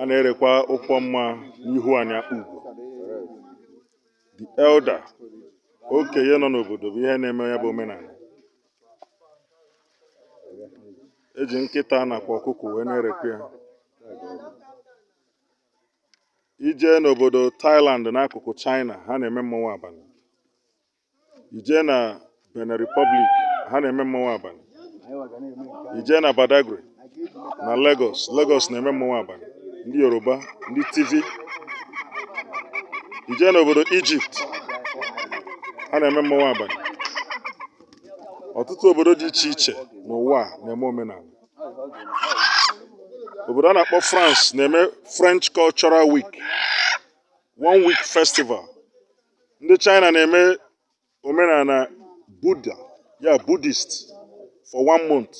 a na-erekwa ụkwọ mma n'ihu ana Akpugo the elder okenye nọ n'obodo bụ ihe na-eme ya bụ omenala e ji nkịta nakwa ọkụkọ wee na-erekwa ya i jee n'obodo Thailand n'akụkụ China ha na-eme mmanwụ abalị i jee na Benin Republic ha na-eme mmanwụ abalị i jee na Badagry na Lagos Lagos na-eme mmanwụ abalị ndị Yoruba ndị Tiv i jee n'obodo Egypt ha na-eme mmanwụ abalị ọtụtụ obodo dị iche iche n'ụwa na-eme omenala obodo a na-akpọ France na-eme French Cultural Week one week festival ndị china na-eme omenala buddha ya buddhist for one month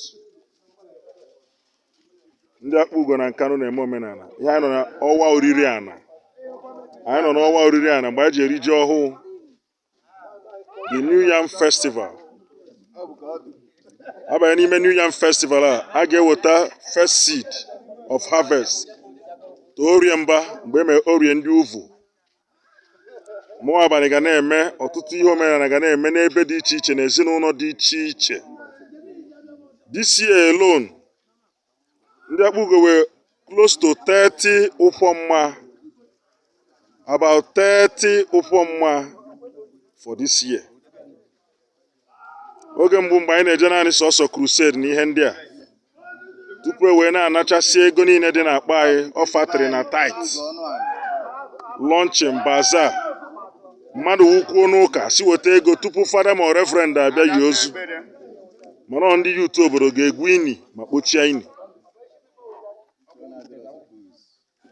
ndị akpugo na nkanu na-eme omenala ihe anyị nọ na ọwa oriri ana anyị nọ n'ọwa oriri ana mgbe anyị ji eri ji ọhụụ the new yam festival a banye n'ime new yam festival a a ga-eweta first seed of harvest to orie mba mgbe e mere orie ndị uvu mmanwụ abalị ga na-eme ọtụtụ ihe omenala ga na-eme n'ebe dị iche iche na ezinụlọ dị iche iche this year alone ndị akpugo were close to 30 ụkwọ mma about 30 ụkwọ mma for this year oge mbụ mgbe anyị na-eje naanị sọsọ crusade na ihe ndị a tupu e wee na-anachasị ego niile dị n'akpa anyị offertory na tithe launching bazaar mmadụ wụkwuo n'ụka sị weta ego tupu fada ma reverend abịa yi ozu mana ọ ndị youth obodo ga-egwu ini ma kpochie ini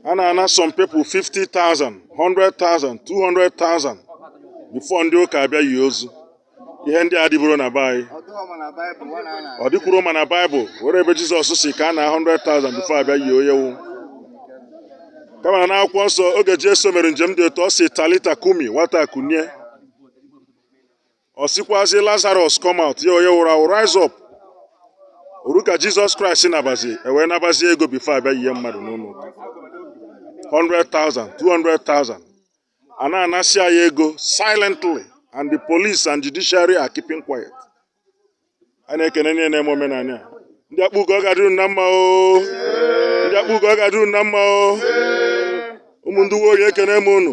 a na-ana some people 50,000 100,000 200,000 before ndị ụka abịa yi ozu ihe ndị a adịburọ na be anyị ọ dịkwuru ma na baịbụl were ebe jizọs sị ka a naa 100,000 before a bịa yi onye wụ kama na akwụkwọ nsọ oge jesu mere njem dị otu ọ sị talita kumi nwata kunie ọ sịkwazi lazarus come out ya onye wụrụ awụ rise up o ru ka jizọs kraịst nabazi e wee nabazi ego before a bịa yie mmadụ n'ụlọ ụka 100,000 200,000 a na-anasị anyị ego silently and the police and judiciary are keeping quiet a na-ekene niile na-eme omenala a ndị akpugo ọ ga-adịru na mma o ndị akpugo ọ ga-adịru na mma o ụmụ ndị uwe ojii ekene m unu